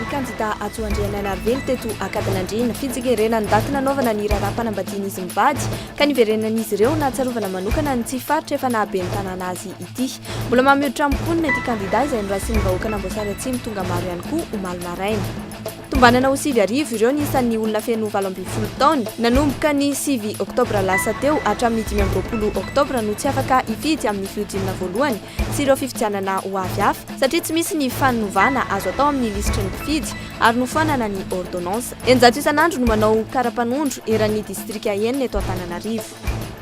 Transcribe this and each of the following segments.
Ny kandidà Hajo Andrianainarivelo teto Ankadinandriana. Fitsingerenany ndaty nanaovana ny raharaham-panambadian'izy mivady ka niverenan'izy ireo nahatsiarovana manokana an'ity faritra efa naha ben'ny tanàna azy ity. Mbola maha-mihoatra amin'ny mponina ity kandidà izay noraisin'ny vahoakan'Amboasary Atsimo tonga maro ihany koa omaly maraina. Tombanana ho sivy arivo ireo ny isan'ny olona feno valo ambin'ny folo taona. Nanomboka ny sivy oktobra lasa teo hatramin'ny dimy amby roapolo oktobra no tsy afaka hifidy amin'ny fihodinana voalohany sy ireo fifidianana ho avy hafa satria tsy misy ny fanovana azo atao amin'ny lisitry ny mpifidy ary nofoanana ny ôrdônansa. Eninjato isan'andro no manao karapanondro eran'ny distrika enina eto Antananarivo.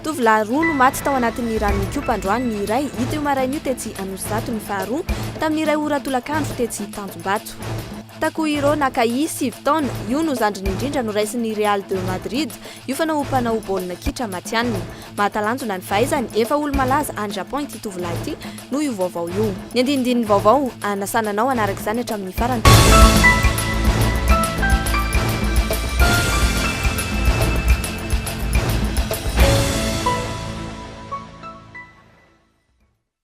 Tovolahy roa no maty tao anatin'ny rano nikopa androany ny iray, hita io maraina io tetsy Anosizato ny faharoa, tamin'ny iray ora tolakandro tetsy Tanjombato. Takuhiro Nakai, sivy taona, io no zandriny indrindra noraisin'ny Real de Madrid, io fanao mpanao baolina kitra matihanina. Mahatalanjona ny fahaizany, efa olo-malaza any Japon ity tovolahy ity noho io vaovao io. Ny andinindininy vaovao, hanasana anao hanaraka izany hatramin'ny farany.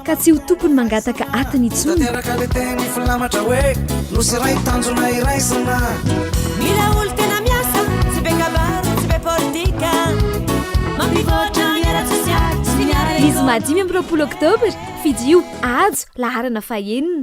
Ka tsy ho tokony mangataka atiny intsony. Tanteraka le teny filamatra hoe nosy iray tanjona iraisana. Mila olo tena miasa, tsy be kabary, tsy be politika. Mampivoatra ny ara-tsosialy sy ny ara-ekonomika. Zoma dimy amby roapolo oktobra, fidio, ajo, laharana fahenina.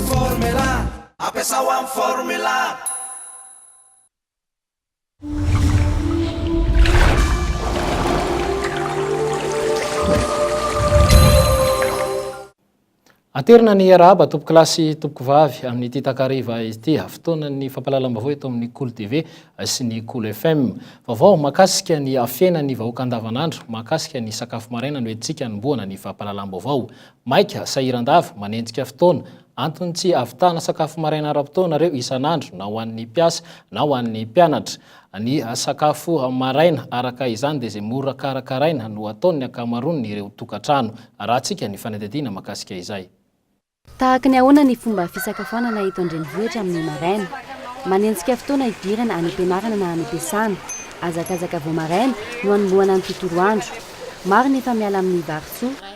Formula, ampiasao amin'ny formula. Aterina ny hiarahaba tompoko lahy sy tompoko vavy amin'ity takariva ity fotoanan'ny fampahalalam-baovao eto amin'ny Kolo TV sy ny Kolo FM. Vaovao makasika ny fiainan'ny vahoaka andavanandro, makasika ny sakafo maraina no entintsika anombohana ny fampahalalam-baovao. Maika, sahiran-dava, manenjika fotoana. Antony tsy hahavitana sakafo maraina ara-potoana ireo isan'andro, na ho an'ny mpiasa, na ho an'ny mpianatra. Ny sakafo maraina, araka izany, dia izay mora karakaraina no ataon'ny ankamaroan' ireo tokantrano. Arahantsika ny fanadihadiana mahakasika izay. Tahaka ny ahoana ny fomba fisakafoanana eto an-drenivohitra amin'ny maraina? Manenjika fotoana hidirana any am-pianarana na any am-piasana. Hazakazaka vao maraina no anombohana ny tontolo andro. Maro ny efa miala amin'ny vary soa.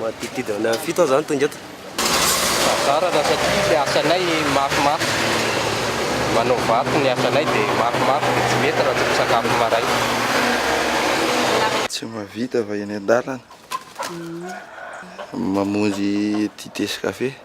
Manodidididina any amin'ny fito aho izany tonga eto. Tazarana satria ny asanay mafimafy, manao vato ny asanay dia mafimafy dia tsy mety raha tsy misakafo maraina. Tsy mahavita vao eny an-dalana mamonjy dite sy kafe.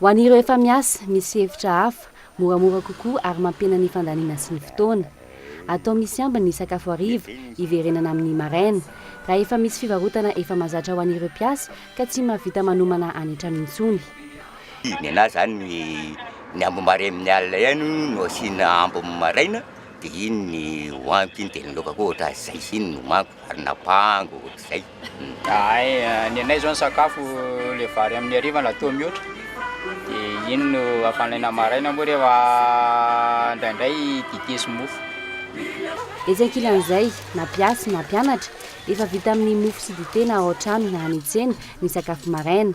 Ho an'ireo efa miasa, misy hevitra hafa, moramora kokoa ary mampihena ny fandaniana sy ny fotoana. Atao misy ambiny ny sakafo hariva, hiverenana amin'ny maraina. Raha efa misy fivarotana efa mahazatra ho an'ireo mpiasa ka tsy mahavita manomana any an-trano intsony. Nenaha izany ny ambiny maraina amin'ny alina ihany no asiana ambiny maraina dia iny no hohaniko iny dia ny laoka koa ohatr'azy izay sy iny no homaniko ary na apahango ohatr'izay. Ahay, ny anay izao ny sakafo ilay vary amin'ny hariva na toa mihoatra, dia iny no afanaina maraina, moa rehefa indraindray dite sy mofo. Etsy ankilan'izay, na mpiasy na mpianatra, efa vita amin'ny mofo sy dite na ao an-trano na any an-tsena ny sakafo maraina.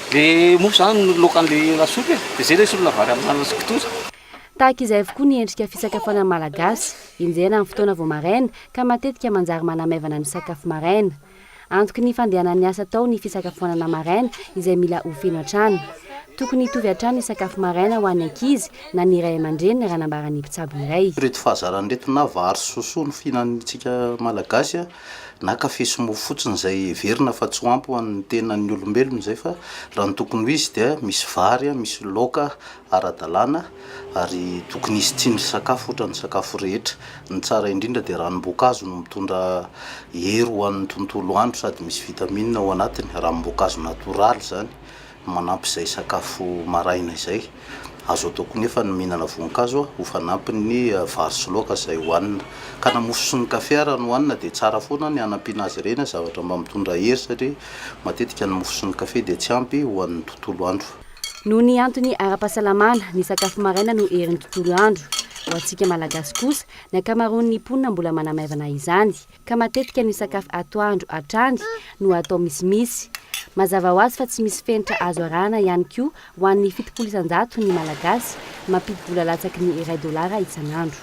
Le mofo zany no loaka an'le lasopy e, de zay le solona vary amin'anana sy kitoza. Tahaka izay avokoa ny endrika fisakafoanan'ny Malagasy. Enjehina amin'ny fotoana vao maraina, ka matetika manjary manamaivana ny sakafo maraina. Antoky ny fandehanan'ny asa atao ny fisakafoanana maraina, izay mila ho feno hatrany. Tokony hitovy hatrany ny sakafo maraina ho an'ny ankizy na ny ray aman-dreniny, raha nambaran'ny mpitsabo iray. Ireto fahazaran'ireto na vary sy sosoa no fihinantsika Malagasy na kafe sy mofo fotsiny izay heverina fa tsy ho ampy ho an'ny tenan'ny olombelona izay fa raha ny tokony ho izy dia misy vary, misy laoka ara-dalàna ary tokony hisy tsindrin-sakafo ohatran'ny sakafo rehetra. Ny tsara indrindra dia ranom-boankazo no mitondra hery ho an'ny tontolo andro sady misy vitamine ao anatiny, ranom-boankazo natoraly izany. Manampy izay sakafo maraina izay. Azo atao koa nefa ny mihinana voankazo ho fanampin'ny vary sy laoka izay hohanina. Ka na mofo sy ny kafe ara no hanina dia tsara foana ny hanampiana azy ireny zavatra mba mitondra hery satria matetika ny mofo sy ny kafe dia tsy ampy ho an'ny tontolo andro. Noho ny antony ara-pahasalamana, ny sakafo maraina no herin'ny tontolo andro. Ho antsika Malagasy kosa, ny ankamaroan'ny mponina mbola manamaivana izany. ka matetika ny sakafo atoandro hatrany no atao misimisy. Mazava ho azy fa tsy misy fenitra azo arahana ihany koa ho an'ny fitopolo isan-jato ny Malagasy mampidi-bola latsaky ny iray dolara isan'andro.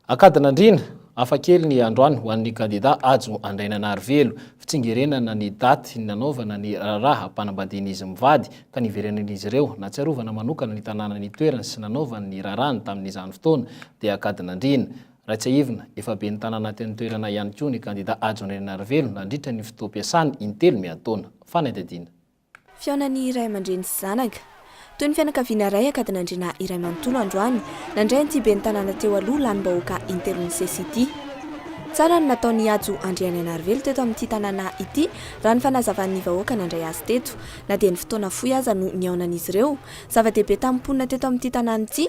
Ankadin'andriana, hafa kely ny androany ho an'ny kandida Hajo Andrainanarivelo. Fitsingerenana ny daty nanaovana ny raharaham-panambadian'izy mivady ka niverenan'izy ireo. Nahatsiarovana manokana ny tanàna nitoerany sy nanaovany ny raharahany tamin'izany fotoana dia Ankadin'andriana. Raha tsiahivina, efa ben'ny tanàna teny an-toerana ihany koa ny kandida Hajo Andrianarivelo nandritra ny fotoam-piasany intelo miantaona. Fanadihadiana. Fihaonan'ny ray aman-dreny sy zanaka. Toy ny fianakaviana iray ankadin'Andriana iray manontolo androany, nandray an'ity ben'ny tanàna teo aloha lanim-bahoaka intelo nisesy ity. Tsara ny nataon'i Hajo Andriananarivelo teto amin'ity tanàna ity raha ny fanazavan'ny vahoaka nandray azy teto. Na dia ny fotoana fohy aza no nihaonan'izy ireo, zava-dehibe tamin'ny mponina teto amin'ity tanàna ity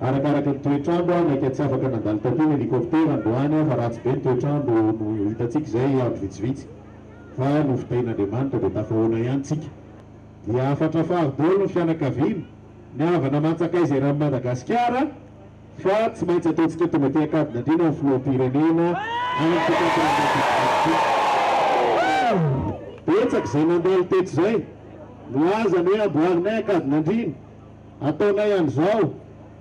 Arakaraka ny toetr'andro, maika tsy afaka nandalo taty ny helicoptère androany fa ratsy be ny toetr'andro no hitantsika izay andro vitsivitsy fa nofitahin'Andriamanitra dia tafahoana ihany tsika dia hafatra fary daholo ny fianakaviana, ny havana aman-tsakaiza eran'i Madagasikara fa tsy maintsy ataontsika tonga aty Ankadinandriana ny filoham-pirenena any Betsaka izay nandalo teto izay no azany hoe amboarinay Ankadinandriana. ataonay an'izao,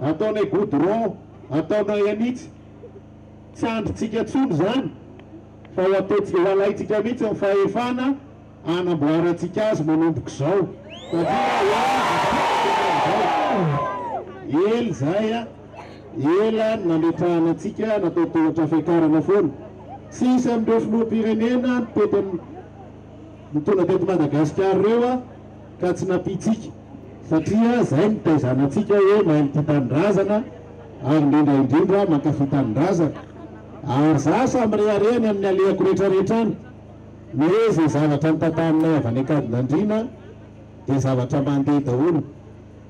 ataonay goudron, ataonay an'itsy. Tsy andrintsika intsony izany fa ho ataontsika, ho alaintsika mihitsy ny fahefana hanamboarantsika azy manomboka izao satria ho an'izao. Ela izay a, ela ny nametrahana antsika natao tohatra fiakarana foana. Tsy hisy amin'ireo filoham-pirenena nitety ny mponina teto Madagasikara ireo ka tsy nampiantsika. satria zay no taizanantsika hoe mahay mitia tanindrazana ary indrindra indrindra mankafy tanindrazana ary za samy rehareha ny amin'ny alehako rehetra rehetra any ny hoe zay zavatra nitataninay avy any ankadinandriana dia zavatra mandeha daholo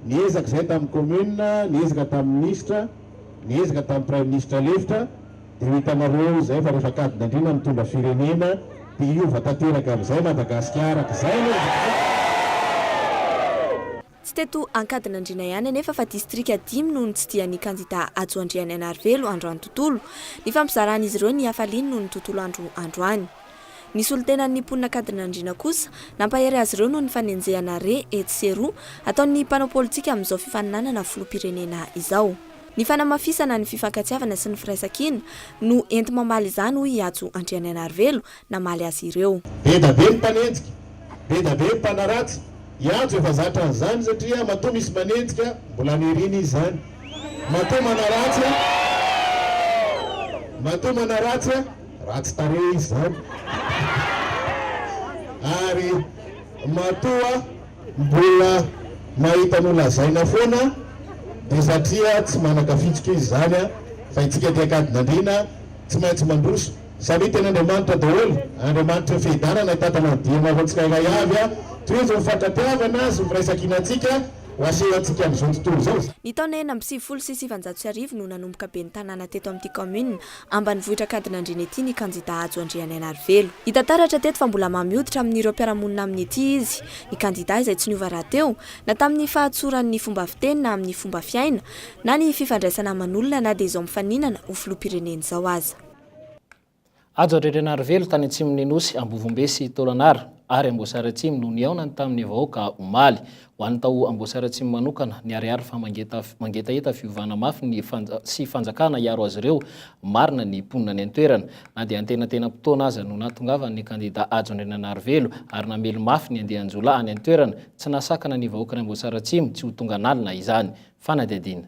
niezaka zay tamin'ny commune niezaka tamin'ny ministra niezaka tamin'ny praiministra lefitra de ho hitanareo izay fa rehefa kadina andriana mitondra firenena de hiova tanteraka amizay Madagasikara ka zay aloha izany. Tsy teto Ankadinandriana ihany anefa fa distrika dimy no nitsidihan'ny kandida Hajo Andrianianarivelo androany tontolo nifampizaran'izy ireo ny hafaliany noho ny tontolo andro androany. Ny solontenan'ny mponin'Ankadinandriana kosa nampahery azy ireo noho ny fanenjehana re etsy sy eroa ataon'ny mpanao politika amin'izao fifaninanana filoham-pirenena izao. Ny fanamafisana ny fifankatiavana sy ny firaisankina no enti-mamaly izany hoy i Hajo Andrianaianarivelo namaly azy ireo. Be da be ny mpanenjika, be da be ny mpanaratsy, i Hajo efa zatra an'izany satria matoa misy manenjika mbola aniriany izy izany, matoa manaratsy a, matoa manaratsy a, ratsy tarehy izy izany ary matoa Mbola mahita nolazaina foana dia satria tsy manakafitsika izy izany fa itsika dia ankadin'andriana tsy maintsy mandroso samia teny Andriamanitra daholo Andriamanitra fiadanana hitantana ny dianareo tsirairay avy tohizo ny fankatiavana sy ny firaisankinantsika ho aseho antsika amin'izao tontolo izao. Ny taona enina amby sivifolo sy sivanjato sy arivo no nanomboka ben'ny tanàna teto amin'ity kaominina Ambanivohitr'Ankadinandriana ity ny kandidà Hajo Andrianainarivelo. Hita taratra teto fa mbola mamy hoditra amin'ireo mpiara-monina aminy ity izy. Ny kandidà izay tsy niova rahateo, na tamin'ny fahatsorany ny fomba fiteny na amin'ny fomba fiaina, na ny fifandraisana aman'olona na dia izao mifaninana ho filoham-pirenena izao aza. Hajo Andrianainarivelo tany atsimon'ny Nosy, Ambovombe sy Tolagnaro ary Amboasary Atsimo no nihaonany tamin'ny vahoaka omaly. Ho an'ny tao Amboasary Atsimo manokana, niharihary fa mangetaheta fiovana mafy ny sy fanjakana hiaro azy ireo marina ny mponina any an-toerana. Na dia antenatenam-potoana aza no nahatongavan'ny kandidà Hajo Andriananarivelo ary namely mafy ny andian-jiolahy any an-toerana, tsy nahasakana ny vahoakan'i Amboasary Atsimo tsy ho tonga an'alina izany. Fanadihadiana.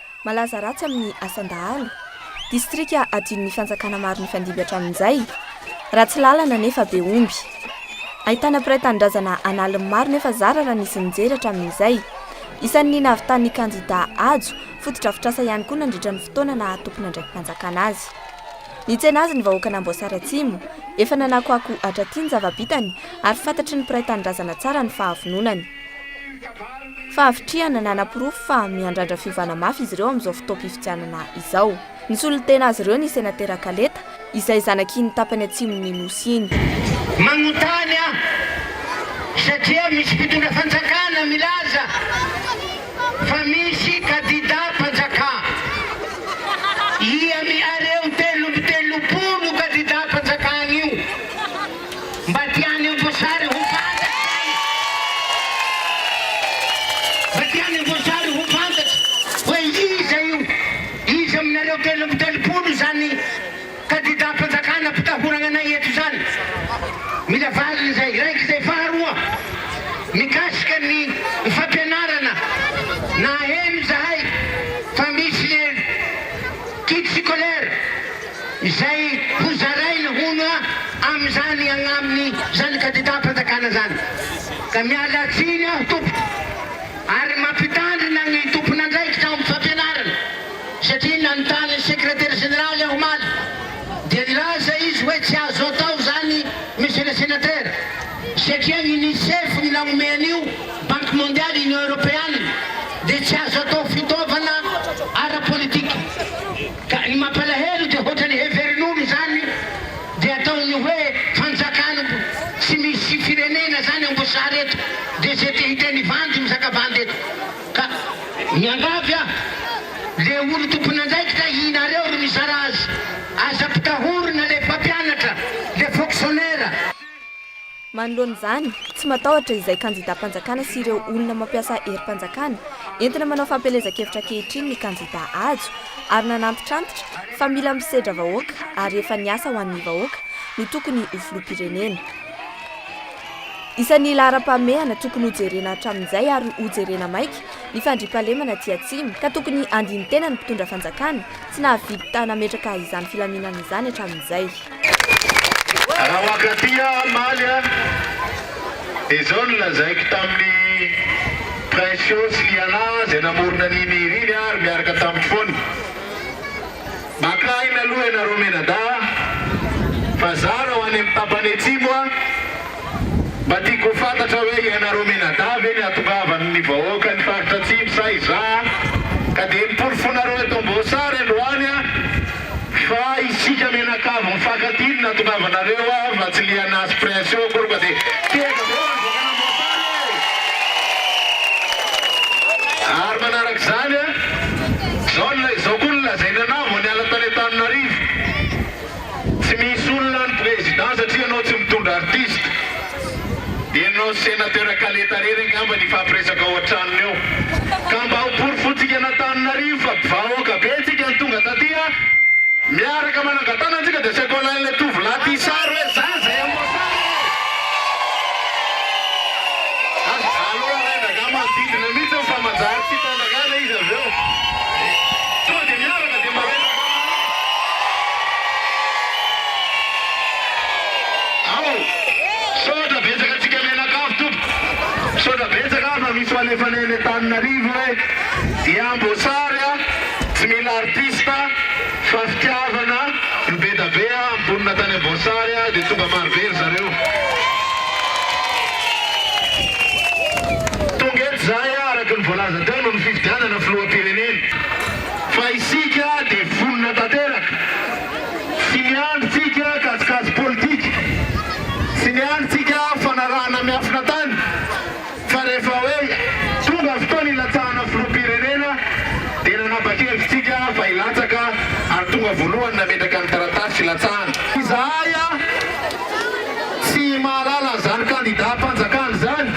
Malaza ratsy amin'ny asan-dahalo. Distrika adinon'ny fanjakana maro nifandimby hatramin'izay. Ratsy lalana nefa be omby. Ahitana mpiray tanindrazana an'aliny maro nefa zara raha nisy nijery hatramin'izay. Isan'ny nahavitan'ny kandidà Hajo fotodrafitrasa ihany koa nandritra ny fotoana naha tompon'andraiki-panjakana azy. Nitsena azy ny vahoakan'Amboasary Atsimo. Efa nanakoako hatraty ny zava-bitany ary fantatry ny mpiray tanindrazana tsara ny fahavononany. Fahavitrihana nanaporofo fa miandrandra fiovana mafy izy ireo amin'izao fotoam-pifidianana izao. Nisolo tena azy ireo ny senatera Kaleta, izay zanak'iny tapany atsimon'ny Nosy iny. Manontany aho satria misy mpitondra fanjakana milaza fa misy kadida mpanjaka. Ia mihareo telo amby telopolo kadida mpanjakana io? Mba tiany Amboasary ho fantatra izany. Mba tiany Amboasary ho fantatra hoe iza io, iza aminareo telo amby telopolo izany kandidam-panjakana ampitahorana anay eto izany. Mila valiny izay iraika izay. Faharoa, mikasika ny fampianarana, naheno izahay fa misy le kit scolaire izay ho zarainy hono amin'izany agnaminy izany kandidam-panjakana izany. Ka miala tsiny aho tompoko ary mampitandrina ny tompon'andraikitra ao amin'ny fampianarana satria nanontany ny sekretera jeneraly aho omaly dia nilaza izy hoe tsy azo atao izany monsieur le sénateur satria ny UNICEF no nanome an'io, Banque Mondiale, Union Europeanne dia tsy azo atao fitaovana ara-politika. Ka ny mampalahelo dia hoatran'ny heverin'olo izany dia ataony hoe fanjakan tsy misy firenena zany ambosary eto dia ze te hiteny vandy mizaka vandy eto ka miangavy aho le olo tompon'andraikitra ihnareo ro mizara azy aza pitahorina le mpampianatra le fonctionnaire Manoloana izany, tsy matahotra izay kandidàm-panjakana sy ireo olona mampiasa herim-panjakana entina manao fampielezan-kevitra ankehitriny ny kandidà Hajo ary nanantitrantitra fa mila misedra vahoaka ary efa niasa ho an'ny vahoaka no tokony ho filoham-pirenena. Isan'ny laharam-pahamehana tokony hojerena hatramin'izay ary hojerena maika ny fandriampahalemana aty Atsimo ka tokony handini-tena ny mpitondra fanjakana tsy nahavidy ta nametraka izany filaminana izany hatramin'izay. Raha mankaty aho hamaly a, dia izao no lazaiko tamin'i Princio sy Liana izay namorona an'i Miri ny ahy ary miaraka tamiko foana, Makà aina aloha ianareo mianadahy a, fa zah raha ho any amin'ny tapany atsimo a, mba tiako ho fantatra hoe ianareo mianadahy ve no ihatongavan'ny vahoaka ny faritra atsimo sa izaho ka dia ny porofonareo eto Amboasary androany a? Fa isika mianakavy mifankatia no nahatongava anareo a fa tsy liana azy prince io akory fa de tehaka be hoany vahoaka an'Amboasary e! Ary manaraka izany a, zao ny izao koa no lazainy anah vao niala tany Antananarivo, tsy misy olona any président satria ianao tsy mitondra artiste. Ianao Senateur Kaleta rery angamba ny hifampiresaka ao an-tranony ao. Ka mba ho porofontsika an'Antananarivo fa vahoaka be antsika no tonga taty a! Miaraka manangan-tàna antsika dia asaiko alain'ilay tovolahy tia sary hoe zany izay amboasary e! Ary aleo arahin-draharaha manodidina mihitsy eo fa manjary tsy hitandrangana izy avy eo. Sao dia miaraka dia maraina-draharaha. Ao! Misaotra betsaka antsika mianakavy tompoko. Misaotra betsaka fa misy fanefana eny Antananarivo e. Dia amboasary a, tsy mila artiste fa fitiavana no be da be a. Mponina tany Amboasary a, dia tonga maro be ry zareo. Tonga eto izahay a, araka ny voalaza teo noho ny fifidianana filoham-pirenena fa isika dia vonona tanteraka. Tsy miandry tsika kajikajy politika, tsy miandry tsika fanarahana miafina tany fa rehefa hoe tonga fotoana hilatsahana filoham-pirenena dia nanapa-kevitra tsika fa hilatsaka ary tonga voalohany nametraka ny taratasy filatsahana. Izahay tsy mahalala an'izany kandida mpanjakana izany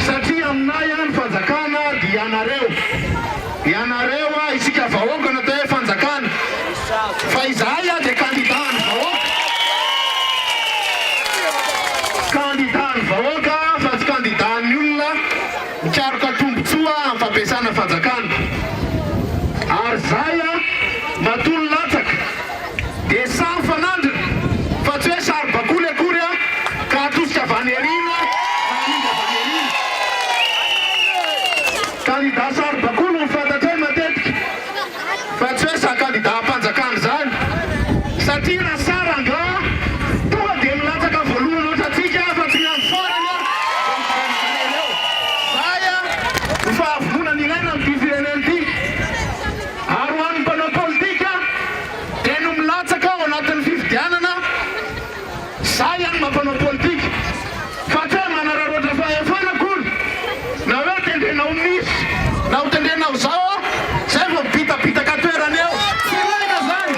satria aminay ny fanjakana dia ianareo. Ianareo ah isika vahoaka no atao hoe fanjakana fa izahay ah dia kandida an'ny vahoaka, kandida an'ny vahoaka fa tsy kandida an'ny olona mikaroka tombotsoa amin'ny fampiasana fanjakana ary izay ah matoa ny latsaka. dia sary fanandrina fa tsy hoe saribakoly akory an, ka hatosika vaneriana na amida vaneriana. Kandida saribakoly no fantatray matetika fa tsy hoe za kandida hampanjakana izany satria raha sary angaha tonga dia milatsaka voalohany ohatrantsika fa tsy miandry farany an, dia mijanona eo. Zay an, ny fahavononana ilaina amin'ity firenena ity. Ary ho an'ny mpanao politika te no milatsaka ao anatin'ny fifidianana, za ihany mba mpanao politika, fa tsy hoe manararaotra fahefana akory, na hoe tendrena ho miss, na ho tendrena ho zao aho, zay vao bitabitaka toerana eo, tsy ilaina zany.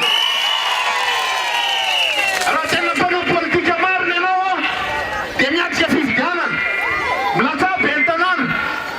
Raha tena mpanao politika marina ianao dia miatrika fifidianana, milatsaha ben'ny tanàna,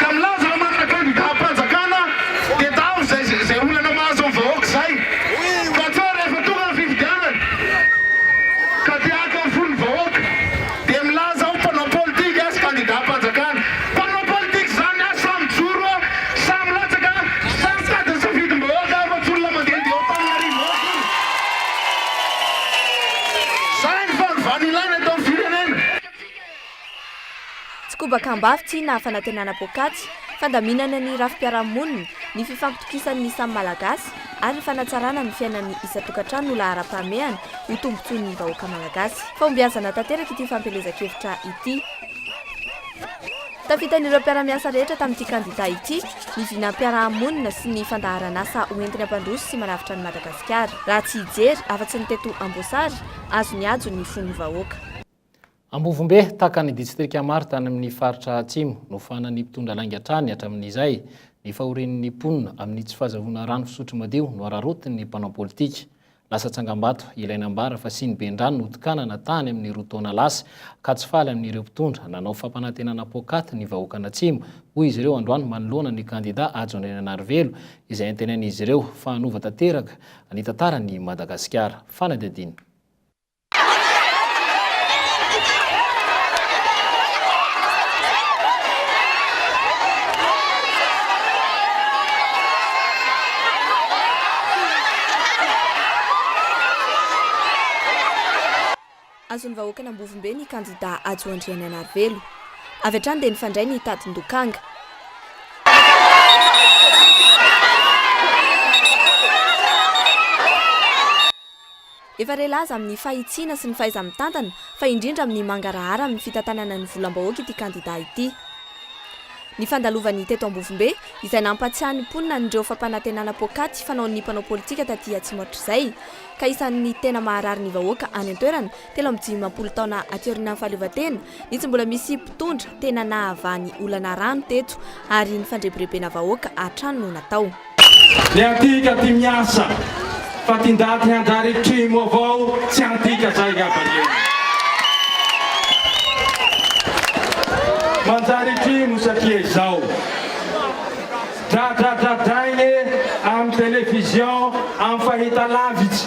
ka milaza fa manana kandidam-panjakana dia tavy izay izay olana mahazo ny vahoaka izay fa sao rehefa tonga ny fifidianana ka te haka ny fon'ny vahoaka dia milaza ho mpanao politika sy kandidam-panjakana mpanao politika izany a samy mijoro a samy latsaka a samy mitady ny safidim-bahoaka a fa tsy olona mandehandeha ao Antananarivo ao akory izay ny fanovana ilaina eto amin'ny firenena. Tsy kobaka am-bavy tsy na fanantenana poakaty, fandaminana ny rafi-piarahamonina, ny fifampitokisan'ny samy Malagasy ary fanatsarana ny fiainan'ny isan-tokantrano no laharam-pahamehana ho tombontsoan'ny vahoaka Malagasy. Fahombiazana tanteraka ity fampielezan-kevitra ity. Tafitan'ireo mpiara-miasa rehetra tamin'ity kandida ity ny vinam-piarahamonina sy ny fandaharan'asa hoentiny hampandroso sy manavotra an'i Madagasikara. Raha tsy hijery afa-tsy ny teto Amboasary, azo nihajo ny fon'ny vahoaka. Ambovombe, tahaka ny distrika maro tany amin'ny faritra Atsimo, nofahanan'ny mpitondra lainga hatrany hatramin'izay ny fahorian'ny mponina amin'ny tsy fahazahoana rano fisotro madio nohararaotin'ny mpanao politika. Lasa tsangambato ilay nambara fa siny ben-drano notokanana tany amin'ny roa taona lasa ka tsy faly amin'ireo mpitondra nanao fampanantenana poakaty ny vahoakan'Atsimo, hoy izy ireo androany manoloana ny kandida Hajo Andriananarivelo izay antenain'izy ireo fa hanova tanteraka ny tantaran'i Madagasikara. Fanadihadiana. Azon'ny vahoakan'Ambovombe ny kandidà Hajo Andriananarivelo. Avy hatrany dia nifandray ny tadin-dokanga. Efa re laza amin'ny fahitsiana sy ny fahaiza-mitantana fa indrindra amin'ny mangarahara amin'ny fitantanana ny volam-bahoaka ity kandida ity. Ny fandalovany teto Ambovombe, izay nampatsiahy ny mponina an'ireo fampanantenana poakaty fanaon'ny mpanao politika taty Atsimo hatrizay, ka isan'ny tena maharary ny vahoaka any an-toerana telo amby dimampolo taona aty aorianan'ny fahaleovantena, ny tsy mbola misy mpitondra tena nahavaha ny olana rano teto ary ny fandrebirebena vahoaka hatrany no natao. Ny antika ty miasa fa ty ndaty hanjary kimo avao tsy antika zay ngamba io. Manjary kimo satria izao dradradradraigny amy television amy fahitalavitsy.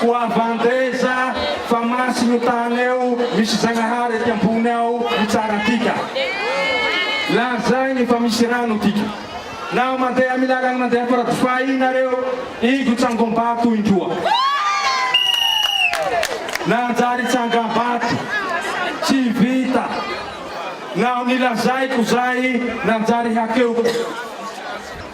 Koa vandreza fa masina io tany eo misy Zagnahary aty ambony ao mitsara antika. Lazainy fa misy rano antika. Naho mandeha amy lalany mandeha faradofay iny nareo, ingo tsangambato indroa. Nanjary tsangambato. Tsy vita. Naho nilazaiko zay, nanjary hakeoko.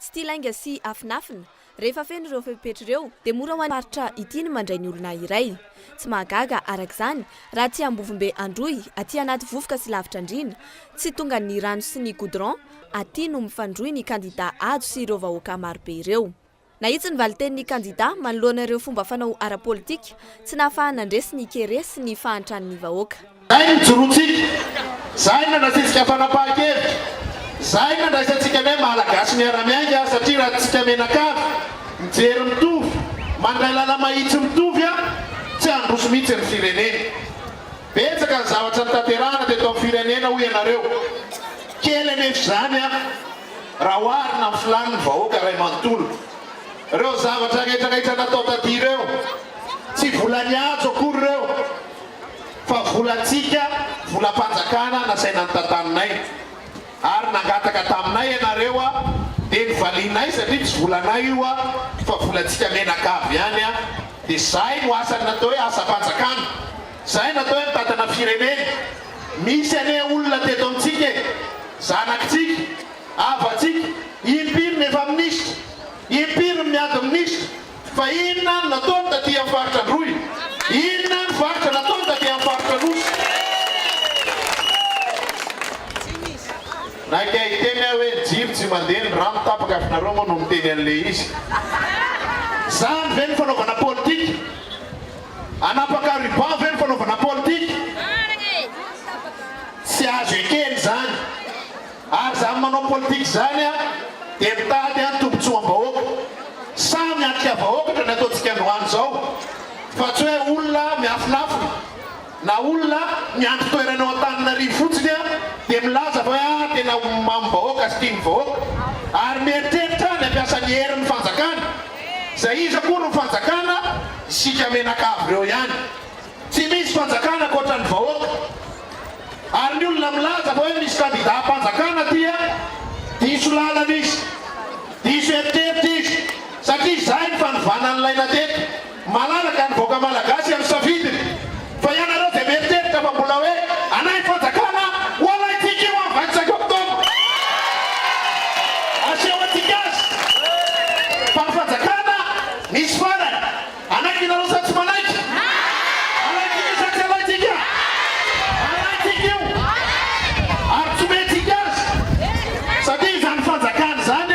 Tsy tia lainga sy afinafina. Rehefa feno ireo fepetra ireo, dia mora ho an'ny faritra ity ny mandray ny olona iray. Tsy mahagaga, araka izany, raha aty Ambovombe Androy, aty anaty vovoka sy lavitra andriana, tsy tonga ny rano sy ny goudron aty no mifandrohy ny kandidà Hajo sy ireo vahoaka marobe ireo. Nahitsy ny valin-tenin'ny kandidà manoloana ireo fomba fanao ara-politika tsy nahafahana nandresy ny kere sy ny fahantran'ny vahoaka. Izay no ijoroantsika, izay no nandraisantsika fanapahan-kevitra, izay no nandraisantsika ny hoe Malagasy miara-miainga satria raha tsika mianakavy, mijery mitovy, mandray lala-mahitsy mitovy an, tsy handroso mihitsy ny firenena. Betsaka ny zavatra notanterahana teto amin'ny firenena hoy ianareo. Kely anefa izany an, raha oharina amin'ny filàn'ny vahoaka iray manontolo. Ireo zavatra rehetra rehetra natao taty ireo, tsy volan'ny hajo akory ireo. fa volantsika, volam-panjakana nasaina notataninay ary nangataka taminay ianareo a, dia novalianay satria tsy volanay io a, fa volantsika menaka avy ihany a, dia zay no asan'ny natao hoe asam-panjakana, zay no atao hoe mitantana firenena, misy anie olona teto amintsika e, zanakitsika, havatsika, impiry no efa minisitra, impiry no miady minisitra, Fa inona no nataony taty amin'ny faritra Androy? Inona no varotra nataony taty amin'ny faritra Anosy? Naika hiteny aho hoe ny jiro tsy mandeha, ny rano tapaka fa nareo moa no miteny an'ilay izy. Zany ve no fanaovana politika? Anapaka ruban ve no fanaovana politika? Tsy azo ekena izany. ary izany manao politika izany a dia mitady an tombotsoam-bahoaka. Sahy miatrika vahoakatra ny ataontsika androany izao fa tsy hoe olona miafinafina na olona miandry toerana ao Antananarivo fotsiny a dia milaza fa hoe a tena omamin'ny vahoaka sy tia ny vahoaka ary mieritreritra ny hampiasa ny herin'ny fanjakana. Izay iza akory ny fanjakana? Isika menakavy ireo ihany. Tsy misy fanjakana ankoatran'ny vahoaka. Ary ny olona milaza fa hoe misy kandidà am-panjakana dia diso lalana izy. Diso eritreritra izy. Satria izay ny fanovana nilaina teto. Malalaka ny vahoaka malagasy amin'ny safidiny. Fa ianareo dia mieritreritra fa mbola hoe anay ny fanjakana, ho alaintsika io amin'ny vingt cinq octobre. Aseho antsika azy fa ny fanjakana misy farany. Hanaiky nareo sa tsy manaiky? Hanaiky sa tsy halaintsika? Halaintsika io ary tsy omentsika azy satria izany fanjakana izany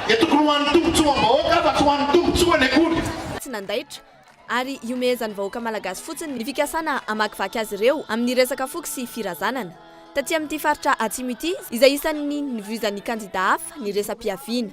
dia tokony ho an'ny tombotsoam-bahoaka fa tsy ho an'ny tombotsoany akory. Tsy nandaitra ary ihomehezan'ny vahoaka malagasy fotsiny ny fikasana hamakivaky azy ireo amin'ny resaka foko sy firazanana. Taty amin'ity faritra Atsimo ity izay isan'ny nivoizan'ny kandidà hafa ny resa-piaviana.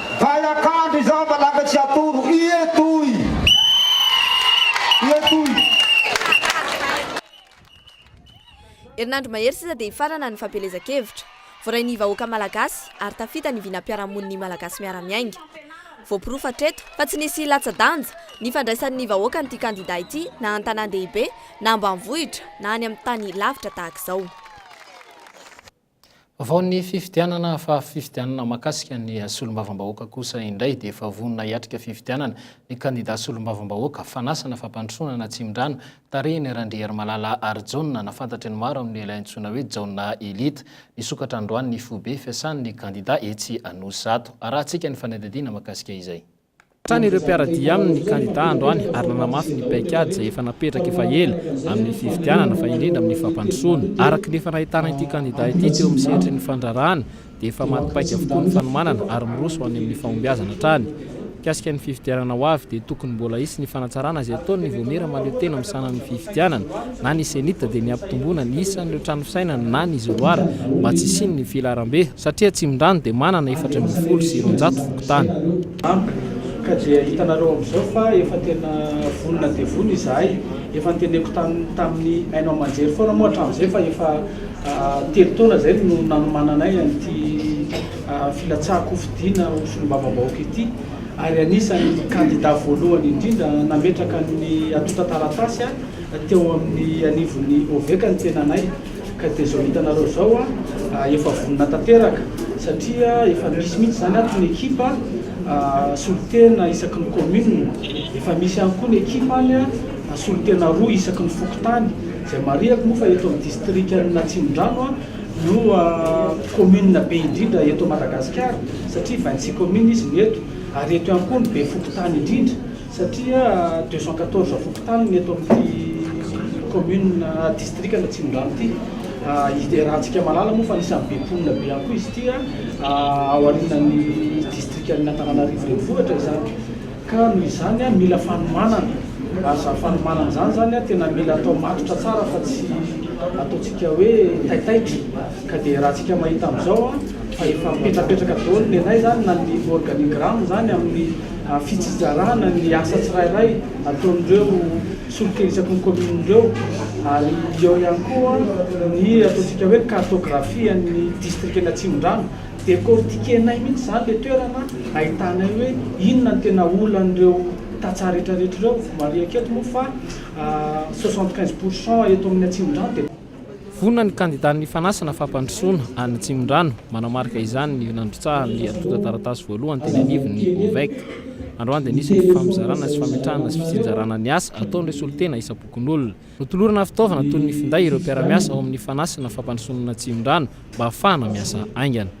Vay akandro izao fa lasa tsy atoro ie toy ie toy. Herinandro mahery sisa dia hifarana ny fampielezan-kevitra. Voarain'ny vahoaka malagasy ary tafita ny vinam-piarahamonin'ny Malagasy miara-miainga. Voaporofo hatreto fa tsy nisy latsa-danja ny fandraisan'ny vahoaka an'ity kandidà ity na an-tanàn-dehibe na ambanivohitra na any amin'ny tany lavitra tahaka izao. Vao ny fifidianana fa fifidianana mahakasika ny solombavambahoaka kosa indray dia efa vonona hiatrika fifidianana ny kandida solombavambahoaka fanasana fampandrosoana na Tsimdrano tarihin'i Randriarimalala Harijaona na fantatry ny maro amin'ny lehilahy antsoina hoe Jaona Elite. Nisokatra androany ny foibe fiasan'ny kandida etsy Anosizato. Arahantsika ny fanadihadiana mahakasika izay. Hatrany ireo mpiara-dia aminy kandida androany ary nanamafy ny paikady izay efa napetraka efa ela amin'ny fifidianana fa indrindra amin'ny fampandrosoana. Araka ny efa nahitana ity kandida ity teo amin'ny sehatry ny fandraharahana dia efa maty paika avokoa ny fanomanana ary miroso ho any amin'ny fahombiazana hatrany. Mikasika ny fifidianana ho avy dia tokony mbola hisy ny fanatsarana izay ataon'ny Vaomiera mahaleo tena amin'ny sahanan'ny fifidianana na ny CENI dia ny hampitomboana ny isan'ireo trano fisainana na ny izoloara mba tsy hisian'ny filaharambe Satria Atsimondrano dia manana efatra ambin'ny folo sy roanjato fokontany. Ampy ka dia hitanareo amin'izao fa efa tena vonona dia vonona izahay. Efa noteneniko tamin'ny haino aman-jery foana moa hatramin'izay fa efa telo taona izay no nanomananay an'ity filatsahan-kofidiana ho solombavambahoaka ity ary anisan'ny kandida voalohany indrindra nametraka ny antontan-taratasy teo amin'ny anivon'ny Ovec ny tenanay. Ka dia izao hitanareo izao an, efa vonona tanteraka satria efa misy mihitsy izany ato ny ekipa solontena isaky ny commune, efa misy ihany koa ny ekipa any an, solontena roa isaky ny fokontany, izay marihako moa fa eto amin'ny distrikan'ny Atsimondrano an, no commune be indrindra eto Madagasikara satria vingt six communes izy no eto, ary eto ihany koa no be fokontany indrindra. satria deux cent quatorze fokontany ny eto amin'ity commune districana Atsimondrano ity, iarahantsika mahalala moa fa anisan'ny be mponina be ihany koa izy ity ao aorianan'ny districan'ny Antananarivo renivohitra izany ka noho izany mila fanomanana ary izany fanomanana izany izany tena mila atao matotra tsara fa tsy ataontsika hoe taitaitra ka dia raha tsika mahita amin'izao fa efa mipetrapetraka daholo ny anay izany na ny organigramme izany amin'ny fitsijarana ny asa tsirairay ataon'ireo solika isaky ny commune ireo ary eo ihany koa ny ataontsika hoe cartographie an'ny district-ny Atsimondrano decortiquer-nay mihitsy izany le toerana ahitanay hoe inona ny tena olan'ireo tantsaha rehetra rehetra ireo mariaka eto moa fa soixante quinze pourcent eto amin'ny Atsimondrano dia Vonona ny kandida nifanasana fampandrosoana any Atsimondrano. Manamarika izany ny nandrotsahan'ny antontan-taratasy voalohany teny anivon'ny Ovec. Androany dia nisy ny fifampizarana sy fametrahana sy fitsinjarana ny asa ataon'ireo solontena isam-pokonolona. Notolorana fitaovana toy ny finday ireo mpiara-miasa ao amin'ny fanasana fampandrosoanan'Atsimondrano mba hahafahana miasa haingana.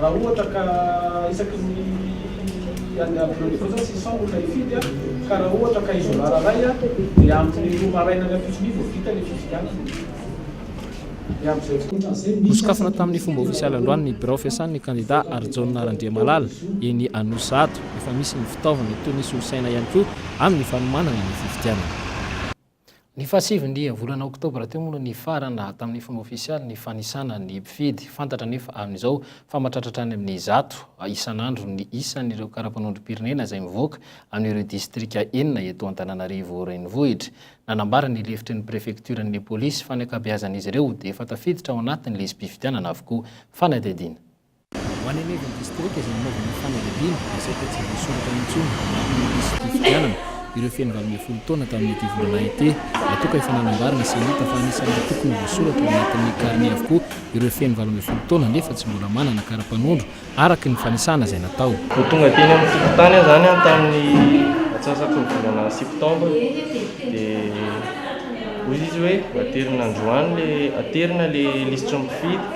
Raha ohatra ka isaky ny any Abreuil fotsiny six cents olona hifidy ka raha ohatra ka izoma raray dia amin'ny roa maraina any Ampitson'Y vao vita ilay fifidianana dia amin'izay tsy ohatran'izay misy Nosokafana tamin'ny fomba ofisialy androany ny birao fiasan'ny kandidà Harijaona Randriamalala eny Anosizato. Efa misy ny fitaovana toy ny solosaina ihany koa amin'ny fanomanana ny fifidianana. Ny faha sivy ny volana oktobra teo moa no nifarana tamin'ny fomba ofisialy ny fanisana ny mpifidy. Fantatra anefa amin'izao fa matratratra any amin'ny zato isan'andro ny isan'ireo karapanondrom-pirenena izay mivoaka amin'ireo distrika enina eto Antananarivo Renivohitra. Nanambara ny lefitry ny prefektioran'ny polisy fa ny ankabeazan'izy ireo dia efa tafiditra ao anatin'ny lisi-pifidianana avokoa. Fanadihadiana. Ho any anivon'ny distrika izay nanaovana ny fanadihadiana, dia saika tsy voasoratra intsony ny antony nampisy ity fifidianana ireo feno valo ambin'ny folo taona tamin'ity volana ity. Natoka efa nanambaran'ny CENIT fa anisan'ny tokony hovoasoratra ao anatin'ny carnet avokoa ireo feno valo ambin'ny folo taona nefa tsy mbola manana kara-panondro araka ny fanisana izay natao. Vao tonga teny amin'ny fokontany aho izany tamin'ny atsasak'iny volana septambra dia hoy izy hoe aterina androany ilay, aterina ilay lisitry ny mpifidy.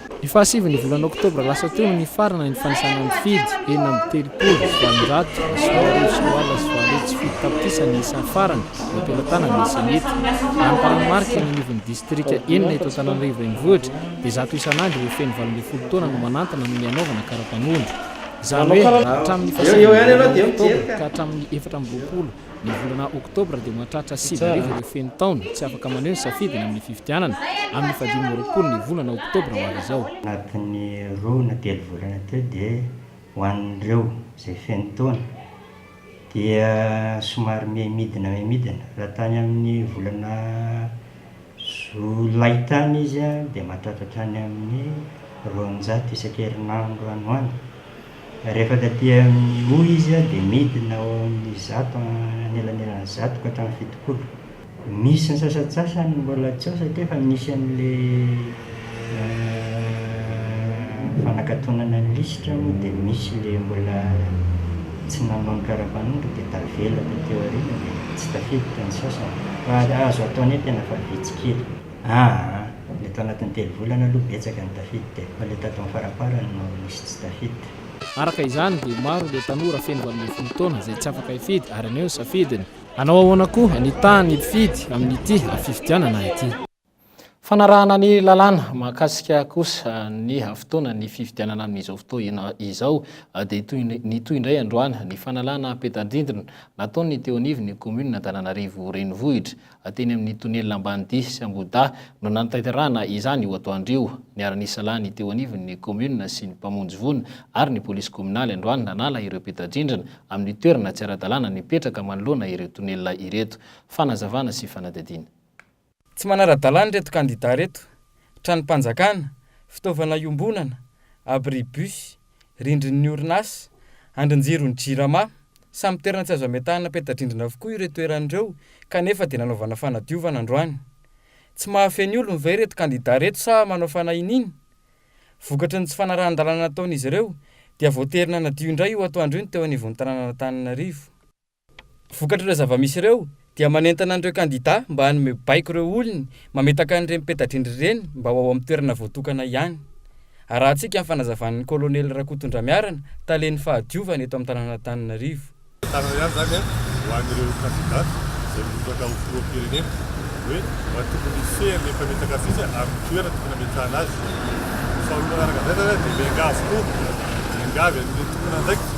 Ny fahasivy ny volana oktobra lasa teo no nifarana ny fanisana nifidy, enina amby telopolo, valonjato sy roa arivo sy roa alina sy valo hetsy sy fito tapitrisa ny isa farany nampelatanana ny Zenith. Raha ny taranomariky ny anivon'ny distrika enina eto Antananarivo Renivohitra dia zato isan'andro ireo feno valo ambin'ny folo taona no manantona ny hanaovana kara-panondro. Izany hoe raha hatramin'ny fahasivy ny volana oktobra ka hatramin'ny efatra amby roapolo Ny volana oktobra dia mahatratra sivy arivo ireo feno taona tsy afaka maneho ny safidiny amin'ny fifidianana, amin'ny fahadimy amby roapolo ny volana oktobra ho avy izao. Anatin'ny roa na telo volana teo dia ho an'ireo izay feno taona dia somary miha midina miha midina raha tany amin'ny volana. Zo laitany izy dia mahatratra hatrany amin'ny roanjato isan-kerinandro any ho any. Rehefa taty amin'ny O izy dia midina ho eo amin'ny zato anelanelan'ny zato ka hatramin'ny fitopolo. Misy ny sasantsasany mbola tsy eo satria efa misy an'ilay. Fanakatonana ny lisitra moa dia misy le mbola tsy nanao ny karapanondro dia tavela taty aoriana dia tsy tafiditra ny sasany fa azo atao anie tena fa vitsy kely aa le tao anatin'ny telo volana aloha betsaka ny tafiditra e fa le tato amin'ny faramparany no nisy tsy tafiditra. Araka izany dia maro ireo tanora feno valo ambin'ny folo taona izay tsy afaka hifidy ary anio ny safidiny. Hanao ahoana koa ny tahan'ny mpifidy amin'ity fifidianana ity. Fanarahana ny lalàna mahakasika kosa ny fotoana ny fifidianana amin'izao fotoana izao dia toy nitohy indray androany ny fanalana peta-drindrina nataon'ny teo anivon'ny Commune Antananarivo Renivohitra teny amin'ny Tonelina Ambanidia sy Ambohidahy no nanatanterahana izany io atoandro io. Niara-nisa lahy ny teo anivon'ny Commune sy ny mpamonjy voina ary ny Polisy Kominaly androany nanala ireo peta-drindrina amin'ny toerana tsy ara-dalàna nipetraka manoloana ireo tonelina ireto. Fanazavana sy fanadihadiana. Tsy manara-dalàna ireto kandidà ireto, tranom-panjakana, fitaovana iombonana, abribus, rindrin'ny orinasa, andrin-jiron'ny Jirama, samy toerana tsy azo ametahana peta-drindrina avokoa ireo toerana ireo kanefa dia nanaovana fanadiovana androany. Tsy mahafehy olony ve ireto kandidà ireto sa manao fanahin'iny? Vokatry ny tsy fanarahan-dalàna nataon'izy ireo dia voatery nanadio indray io atoandro io ny teo anivon'ny tanànan'Antananarivo. Vokatr'ireo zava-misy ireo dia manentana an'ireo kandida mba hanome baiko ireo olony mametaka an'ireny peta-drindrina ireny mba ho ao amin'ny toerana voatokana ihany. Arahantsika amin'ny fanazavan'ny Kolonely Rakotondra-Miarana, Talen'ny Fahadiovana eto amin'ny tanàn'Antananarivo. Tanana ihany izany ho an'ireo kandida izay mirotsaka ho filoham-pirenena hoe mba tokony hifehy an'ilay mpametaka afisy amin'ny toerana tokony hametrahana azy. Faharoa manaraka an'izay izany dia miangavy koa, miangavy an'ireo tompon'andraikitra.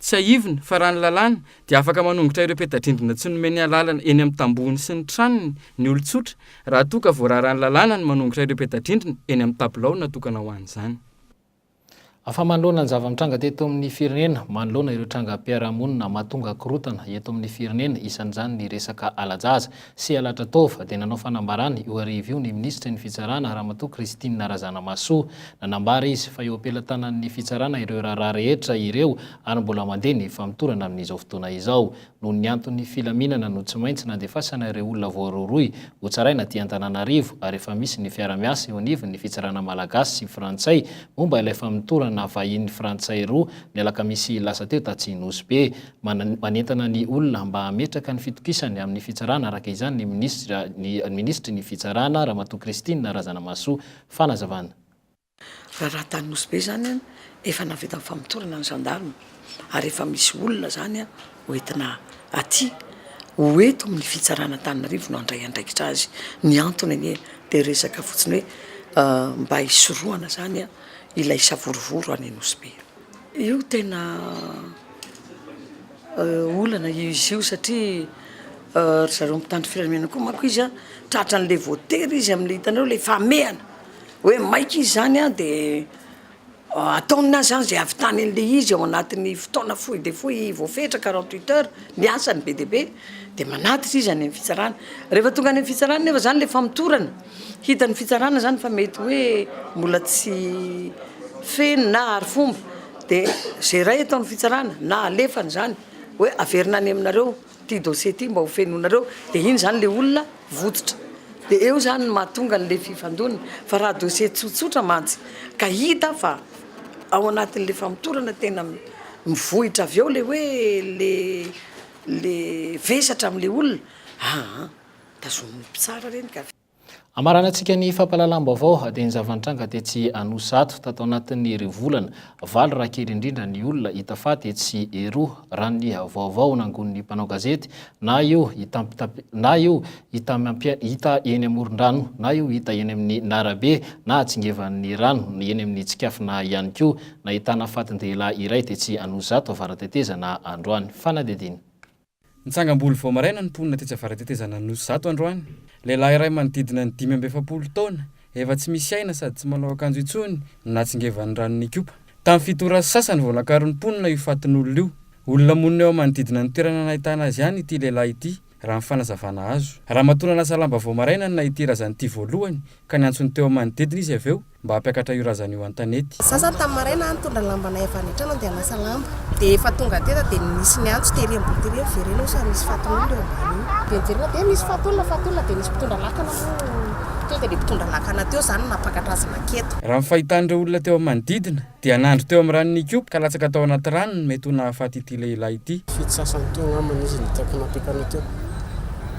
Tsiahivina fa raha ny lalàna dia afaka manongotra ireo peta-drindrina tsy nomeny alalana eny amin'ny tambohony sy ny tranony ny olon-tsotra raha toa ka voararan'ny lalàna ny manongotra ireo peta-drindrina eny amin'ny tabilao natokana ho an'izany. Fa manoloana ny zava-mitranga teto amin'ny firenena, manoloana ireo trangam-piarahamonina mahatonga korontana eto amin'ny firenena, isan'izany ny resaka hala-jaza, sy Aladratova, dia nanao fanambarana io hariva io ny minisitry ny Fitsarana, Ramatoa Christine Razanamahasoa. Nanambara izy fa eo am-pelatanan'ny Fitsarana ireo raharaha rehetra ireo ary mbola mandeha ny famotorana amin'izao fotoana izao. Noho ny antony filaminana no tsy maintsy nandefasana ireo olona voarohirohy hotsaraina aty Antananarivo ary efa misy ny fiara-miasa eo anivon'ny Fitsarana Malagasy sy Frantsay momba ilay famotorana vahiny Frantsay roa ny alakamisy lasa teo Tatsy Nosy Be. manentana ny olona mba hametraka ny fitokisany amin'ny fitsarana araka izany ny minisitra ny minisitry ny fitsarana Ramatoa Christine Razanamahasoa. Fanazavana. Raha raha tany Nosy Be zany an, efa nahavita ny famotorana ny gendarme ary efa misy olona zany an ho entina aty ho eto amin'ny fitsarana Antananarivo no handray andraikitra azy. Ny antony anie dia resaka fotsiny hoe mba hisorohana zany an ilay savorovoro any Nosy Be. Io tena olana izy io satria ry zareo mpitandro filaminana koa manko izy a tratra an'le voatery izy am'le hitanareo le famehana hoe maika izy zany a de ataony azy zany ze ahavitany an'le izy ao anatin'ny fotoana fohy dia fohy voafetra quarante huit heures ny asany be dia be de manatitra izy any amin'ny fitsarana, rehefa tonga any amin'ny fitsarana nefa zany le famotorana. Hitan'ny fitsarana izany fa mety hoe mbola tsy feno na arifomba dia izay iray ataon'ny fitsarana na alefany izany hoe averina any aminareo ity dossier ity mba ho fenoinareo dia iny izany ilay olona vototra. Dia eo izany no mahatonga an'ilay fifandonana. Fa raha dossier tsotsotra mantsy ka hita fa ao anatin'ilay famotorana tena mivohitra avy eo ilay hoe ilay ilay vesatra amin'ilay olona, aa. Tazonin'ny mpitsara reny ka. Hamaranantsika ny fampahalalam-baovao dia ny zava-nitranga tetsy Anosizato tato anatin'ny iry volana. Valo raha kely indrindra ny olona hita faty etsy eroa, raha ny vaovao nangonin'ny mpanao gazety, na io hitampitap na io hita miampia hita eny amoron-drano, na io hita eny amin'ny narabe, na hatsingevan'ny rano, na eny amin'ny tsikafona ihany koa. Nahitana fatin-dehilahy iray tetsy Anosizato avara-tetezana androany. Fanadihadiana. Nitsangam-bolo vao maraina ny mponina tetsy Avaratetezan'Anosy zato androany. Lehilahy iray manodidina ny dimy amby efapolo taona, efa tsy misy aina sady tsy manao akanjo intsony no natsingevan'ny rano nikopa. Tamin'ny fito ora sy sasany vao nakaron'ny mponina io fatin'olona io. Olona monina eo amanodidina ny toerana nahitana azy ihany ity lehilahy ity, raha ny fanazavana azo. Ramatoa nanasa lamba vao maraina no nahity razana ity voalohany ka niantso ny teo amanodidina izy avy eo, mba hampiakatra io razana io an-tanety. Za zany tamin'ny maraina aho nitondra ny lambanay avy any an-trano handeha hanasa lamba, dia efa tonga teto aho dia nisy niantso tery ambony tery hoe miverena eo sao misy fatin'olona eo ambany eo. Dia niverena dia misy fatin'olona fatin'olona dia nisy mpitondra lakana moa tonga dia mpitondra lakana teo izany no nampakatra azy naketo. Raha ny fahitan'ireo olona teo amin'ny manodidina Dia nandry teo amin'ny ranon'i Kyopo ka latsaka tao anaty rano ny mety ho nahafaty ity lehilahy ity. Fito sasany teo angamba izy nitaiko napetrany teo.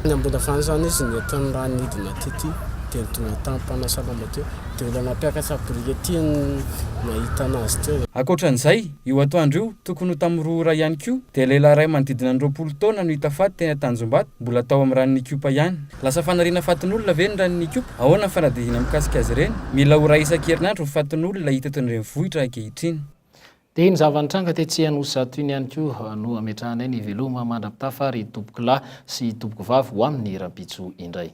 Na mbola vany izany izy nety ny rano nidina tety dia ny tonga tany mpanasa lamba teo dia olona nampiakatra brikety no nahita anazy teo. Ankoatran'izay, io atoandro io, tokony ho tamin'ny roa ora ihany koa, dia lehilahy iray manodidina ny roapolo taona no hita faty teny Antanjombato, mbola tao amin'ny ranon'i Kyopo ihany. Lasa fanariana fatin'olona ve ny ran'ny ikopa? Ahoana ny fanadihadiana mikasika azy ireny? Mila ho iray isan-kerinandro ny fatin'olona hita eto an-drenivohitra ankehitriny. Dia ny zava-nitranga tetsy Anosizato iny ihany koa no ametrahanay ny veloma mandra-pitafa ry tompoko lahy sy tompoko vavy ho aminy rahampitso indray.